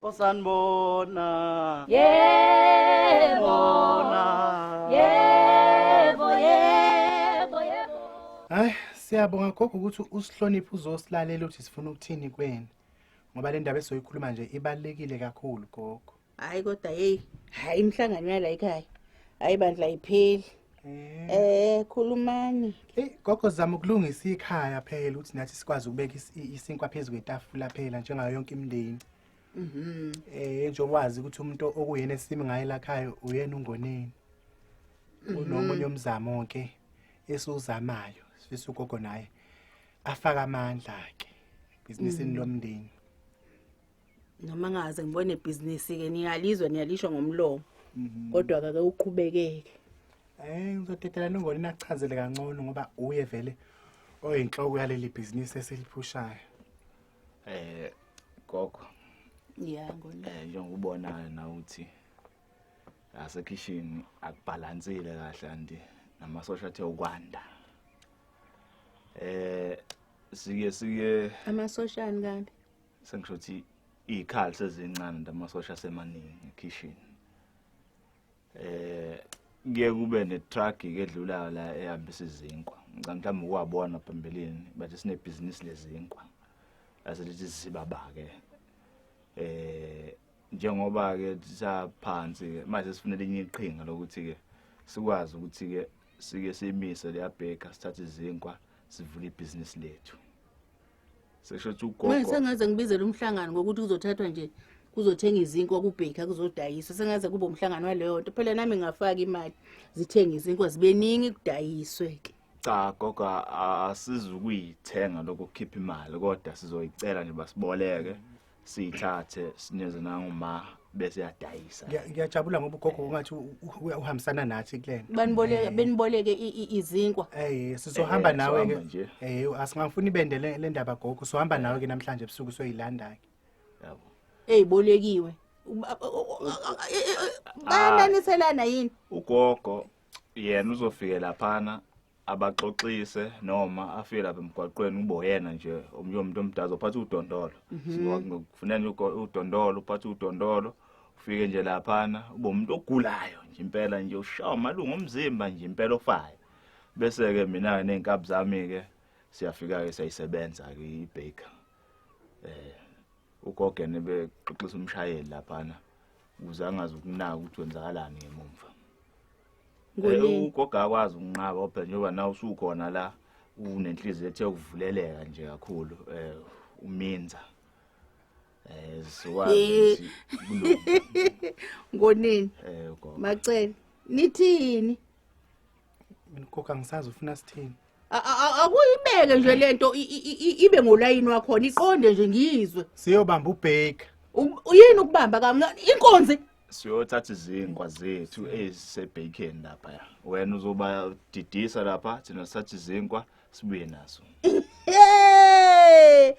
osanibona yebo bona yebo yebo yebo hayi siyabonga gogo ukuthi usihloniphe uzosilalela ukuthi sifuna ukuthini kweni ngoba le ndaba esoyikhuluma nje ibalulekile kakhulu gogo hayi kodwa yeyi hayi imihlangano yala ekhaya hayi bandla ayipheli Eh. eh khulumani. Hey gogo zama ukulungisa ikhaya phela ukuthi nathi sikwazi ukubeka isinkwa phezulu kwetafula phela njengayo yonke imindeni. Mhm. Eh nje wazi ukuthi umuntu okuyena esimi ngaye lakhaya uyena ungoneni. Mhm. Unomunye umzamo ke esuzamayo sifisa ugogo naye afaka amandla ke bhizinisini mhm. lomndeni. noma ngaze ngibone ibhizinisi ke niyalizwe niyalisho ngomlomo mhm. kodwa kake uqhubekeke eh ngizodedela nongoni nakuchazele kancane ngoba uye vele oyinhloko yaleli bhizinisi esiliphushayo eh gogo yeah ngoni eh njengokubonayo na ukuthi asekhishini akubhalansile kahle andi namasosha athe ukwanda eh siye siye amasoshani kanti sengisho ukuthi izikhali sezincane ndamasosha semaningi ekhishini eh kuye kube netruck edlulayo la ehambisa izinkwa ngicela mhlawumbe ukuwabona phambilini bathi sinebhizinisi lezinkwa aselithi sibabake eh njengoba ke saphansi ke manje sifunele inye iqhinga lokuthi ke sikwazi ukuthi ke sike simise leyabheka sithathe izinkwa sivule ibhizinisi lethu seshothi ugogo manje sengaze ngibizele umhlangano ngokuthi kuzothathwa nje kuzothenga izinkwa kubhekha kuzodayiswa sengaze kube umhlangano waleyo nto phela nami ngafaka imali zithenga izinkwa zibeningi kudayiswe ke cha gogo asizukuyithenga lokukhipha imali kodwa sizoyicela nje basiboleke siyithathe sineze nanguma bese yadayisa Ngiya- ngiyajabula ngoba ugogo ungathi u- u- u- uhambisana nathi kulena baniboleke beniboleke i- i- izinkwa Eh sizohamba Eh, nawe sohamba ke. nje. Eh asingafuni ibende le le ndaba gogo. Sohamba nawe ke namhlanje ebusuku soyilanda ke. yabo eyibolekiwe Uba- o- o- o- o- e- e- e- bayananiselana yini ugogo yena uzofike laphana abaxoxise noma afike lapha emgwaqweni kube uyena nje omunye umuntu omdala uzophatha udondolo mhm. kufuneka nje udondolo uphathe udondolo ufike nje laphana ube umuntu ogulayo nje impela nje ushawa amalungu omzimba nje impela ofayo bese-ke mina-ke ney'nkabi zami-ke siyafika-ke siyayisebenza-ke i-baker eh ugogene bexoxisa umshayeli laphana ukuze angazi ukunaka ukuthi kwenzakalani ngemumva Ngolini. ugoga akwazi ukunqaba phela njengoba nawe usukhona la unenhliziyo ethe ukuvuleleka nje kakhulu eh uminza eh siwazi Eh. ukuthi kulunga. ngonini eh ugogo macele nithini mina ugogo angisazi ufuna sithini A- a- a- akuyibeke nje lento i- i- i- ibe ngolayini wakhona iqonde nje ngiyizwe siyobamba ubheka U- uyini ukubamba kamncane inkonzi siyothatha izinkwa zethu ezisebhekeni lapha ya wena uzoba didisa lapha thina sithatha izinkwa sibuye nazo Hey!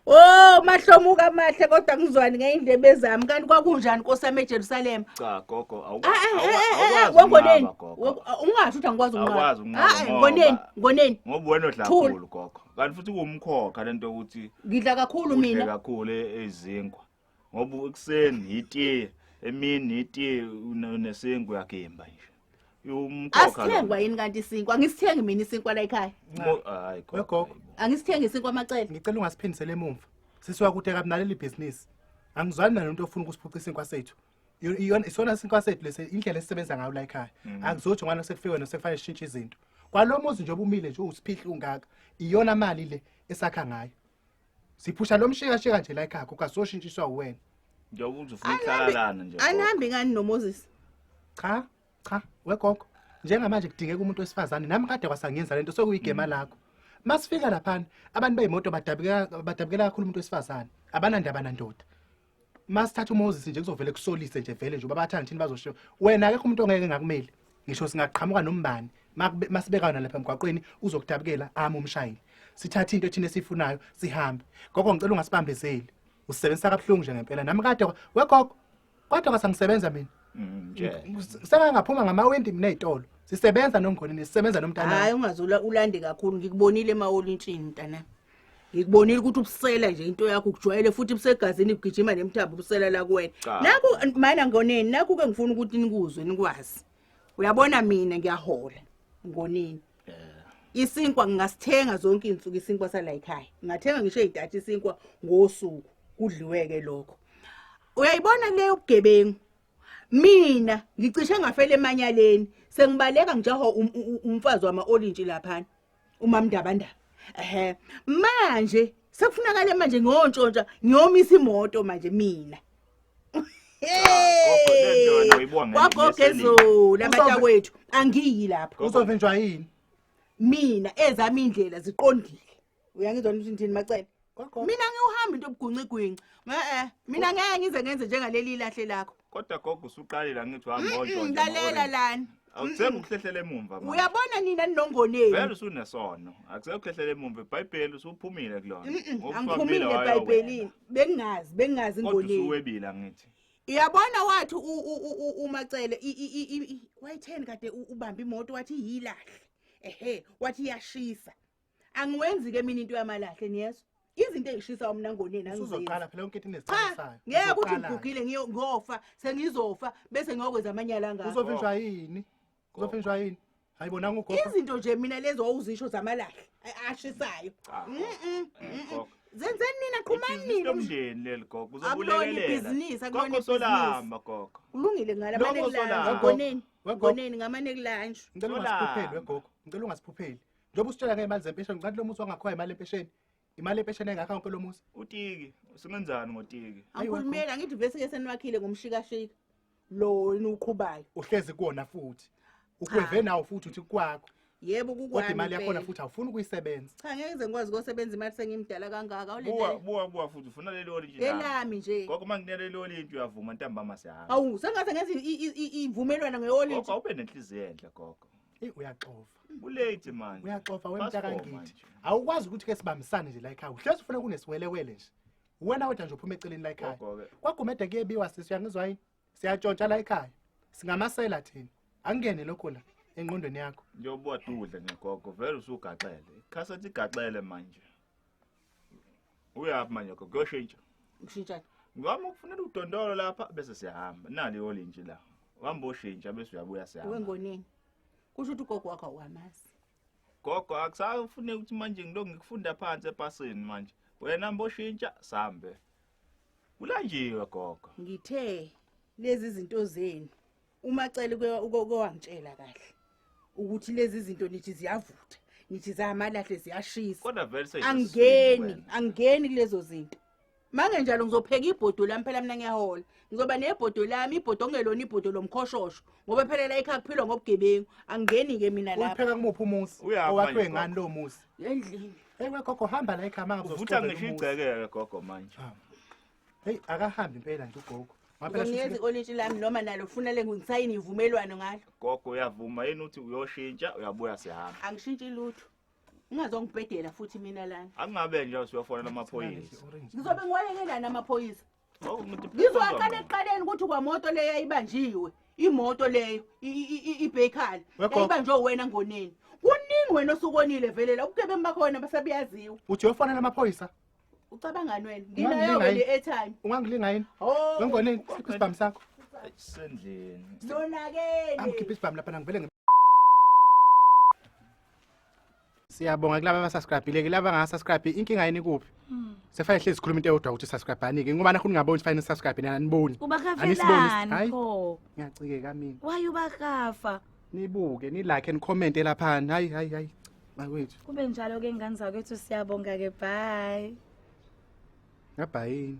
Oh, mahlomuka amahle kodwa ngizwani ngeindlebe zami kanti kwakunjani nkosami eJerusalem. cha gogo Ah, ah, ah, ah, ah, Wangoneni. Wango- ah, Ungasho ukuthi angikwazi ukunqaba. Awukwazi ukunqaba Ah, ah, ngoba- Ngoneni, ngoneni. ngoba wena odla Thula. kakhulu gogo kanti futhi kuwumkhokha lento yokuthi Ngidla kakhulu udle mina. kakhulu e- izinkwa ngoba ekuseni yitiye emini yitiye unesingu uyagimba nje umkhokha asithengwa yini kanti isinkwa angisithengi mina isinkwa la ekhaya hayi gogo angisithengi isinkwa amacele ngicela ungasiphindisele emumva sisi wakuthe kabi naleli bhizinisi angizwani nalo nto ofuna ukusiphuca isinkwa sethu iyona isona isinkwa sethu lesi indlela esisebenza ngayo la ekhaya mm. akuzothi ngwana sekufike wena sekufanele sishintshe izinto kwalo muzi nje obumile nje uwusiphihla ungaka iyona mali le esakha ngayo siphusha lo mshikashika nje la ekhaya gogo asoshintshiswa uwena njengoba ukuthi ufuna ukuhlalalana nje anihambi ngani nomoses cha cha wegogo njengamanje kudingeka umuntu wesifazane nami kade kwasangenza lento sokuyigema mm. lakho masifika laphana abantu beyimoto badabukela badabukela kakhulu umuntu wesifazane abanandaba nandoda masithatha uMoses nje kuzovele kusolise nje vele nje babathanda thini bazoshiya wena akekho umuntu ongeke ngakumeli ngisho singaqhamuka nombani masibekana lapha emgwaqweni uzokutabukela ami umshayeli sithatha into ethina esifunayo sihambe gogo ngicela ungasibambezeli usebenzisa kabuhlungu nje ngempela nami kade wegogo kodwa kasangisebenza mina mm, sengangaphuma ngamawindi mina ezitolo sisebenza nongoni nesisebenza nomntana hayi ungazula ulande kakhulu ngikubonile emawolintshini mntana ngikubonile ukuthi ubusela nje into yakho ukujwayele futhi busegazini kugijima nemthambo ubusela la kuwena Cha. naku mana ngoneni naku ke ngifuna ukuthi nikuzwe nikwazi uyabona mina ngiyahola ngoneni isinkwa ngingasithenga zonke izinsuku isinkwa sala ekhaya ngathenga ngisho idatha isinkwa ngosuku kudliweke lokho uyayibona le yobugebengu mina ngicishe ngafela emanyaleni sengibaleka ngijaho um- um- um- umfazi wama-olintshi laphana umamndabandaba ehe manje sekufunakala manje ngontshontsha ngiyomisa imoto manje mina kwagogezulu abatakwethu angiyi lapho uzovinjwa yini mina ezami indlela ziqondile uyangizwa nithi ndini macele Kwagogo. mina ngiwuhamba into obugwincigwinci e-e mina ngeke ngize ngenze njengaleli ilahle lakho kodwa gogo usuqalile angithi uhamba Mm-mm, onjonje lalela lani awuthembi ukuhlehlela emumva manje uyabona nina vele ninongoneni usunesono akusekho ukuhlehlela emumva ibhayibheli usuphumile kulona Mm-mm, Ngokuthi angiphumile wabila wayowena. ebhayibhelini bengingazi bengingazi kodwa ngoneni usuwebile angithi uyabona wathi u- u- u- u- umacele i- i- i- i- i- wayitheni kade u- ubambe imoto wathi yilahle ehe wathi iyashisa angiwenzi ke mina into yamalahle niyezwa izinto ezishisa umna ngoneni angizoqala phela yonke into inesicelisayo ngeke ukuthi ngigugile ngiyofa sengizofa bese ngiyokwenza amanyala ngakho uzofinjwa yini uzofinjwa yini hayi bona ngugogo izinto nje mina lezo owuzisho zamalahle ashisayo ah, mm, mm, mm, zenzeni nina qhumani nina umndeni leli gogo uzobulekelela ibhizinisi akubona usolamba gogo ulungile ngala mane kulanje ngoneni ngoneni ngamane kulanje ngicela ungasiphupheli wegogo ngicela ungasiphupheli Njengoba usitshela ngemali zempesheni, ngicathi lo muzi wangakhoya imali empesheni. Imali empesheni engakha wonke lo muzi. Utiki, usungenzani ngotiki? Angikhulumeli angithi vese ke seniwakhile ngomshikashika. Lo yini uqhubayo. Uhlezi kuona futhi. Ukweve nawo futhi uthi kwakho. Yebo kukwami. Kodwa imali yakhona futhi awufuni ukuyisebenza. Cha ngeke ngize ngikwazi ukusebenza imali sengimdala kangaka. Ulele. Buwa buwa buwa futhi ufuna le loli nje. Elami nje. Gogo manginele loli into uyavuma ntambama sihamba. Awu sengathi ngenza ivumelwano ngeoli. Gogo awube nenhliziyo enhle gogo. Ey uyaxofa. Kulate manje. Uyaxofa wemtaka ngithi. Awukwazi ukuthi ke sibambisane nje la ekhaya. Uhlezi ufuna kunesiwelewele nje. Wena wethu nje uphuma eceleni la ekhaya. Kwagumede kuyebiwa sisi uyangizwa yini? Siyatshontsha la ekhaya. Singamasela thina. Angene lokho la engqondweni yakho. Njengoba ududle ngegogo vele usugaxele. Ikhasa ligaxele manje. uyaphi manje gogo kuyoshintsha ngishintsha ngami ukufunela udondolo lapha bese siyahamba nali yolintshi la uhamba oshintsha bese uyabuya siyahamba wengoneni kusho ukuthi ugogo wakho awamazi gogo akusafune ukuthi manje ngilo ngikufunda phansi epasini manje wena mboshintsha sambe kulanjiwe gogo ngithe lezi zinto zenu uma cele ukowangitshela kahle ukuthi lezi zinto nithi ziyavutha nithi zamalahle ziyashisa kodwa vele seyizwe angeni angeni kulezo zinto mange njalo ngizopheka ibhodo lami phela mina ngiyahola ngizoba nebhodo lami ibhodo ongelona ibhodo lomkhoshosho ngoba phela la ekhaya kuphilwa ngobugebengu angeni ke mina lapha upheka kumuphi umusi Uyapha owakhe nje, ngani lo musi endlini ewe gogo hamba la ekhaya manga uvutha ngisho igceke ke gogo manje heyi akahambi impela nje ugogo ngonyezi olintshi lami noma nalo funa le ngisayini ivumelwano ngalo gogo uyavuma yini ukuthi uyoshintsha uyabuya sihamba angishintshi lutho ungazongibhedela futhi mina lana angabe nje usuyofonela amaphoyisa ngizobe ngiwalekelani amaphoyisa oh, ngizowaqala ekuqaleni ukuthi kwamoto leyo yayibanjiwe imoto leyo ibhekhala yayibanjwe wena ngoneni kuningi wena osukonile velela ubugebengu bakhona basabuyaziwa uthi uyofonela amaphoyisa ucabangani wena nginayo Ungangilingani? le airtime ungangilinga yini Oh, wengoneni khipha isibhamu sakho Sendleni. nonakele angikhipha isibhamu lapha nangivele ngi- siyabonga kulaba abasascribhile-ke laba angasascribhi inkinga yini kuphi sekufanele hlezi sikhuluma into eyodwa ukuthi sascribhani-ke ngoba nakho ningaboni sifanele sascribhe nani aniboni Anisibonis- ubakafelani Hhayi, pho ngiyacikeka mina why ubakafa nibuke nilike nikhomente laphana hayi hayi hayi bakwethu kube njalo ke ngane zakwethu siyabonga ke bye ngabhayini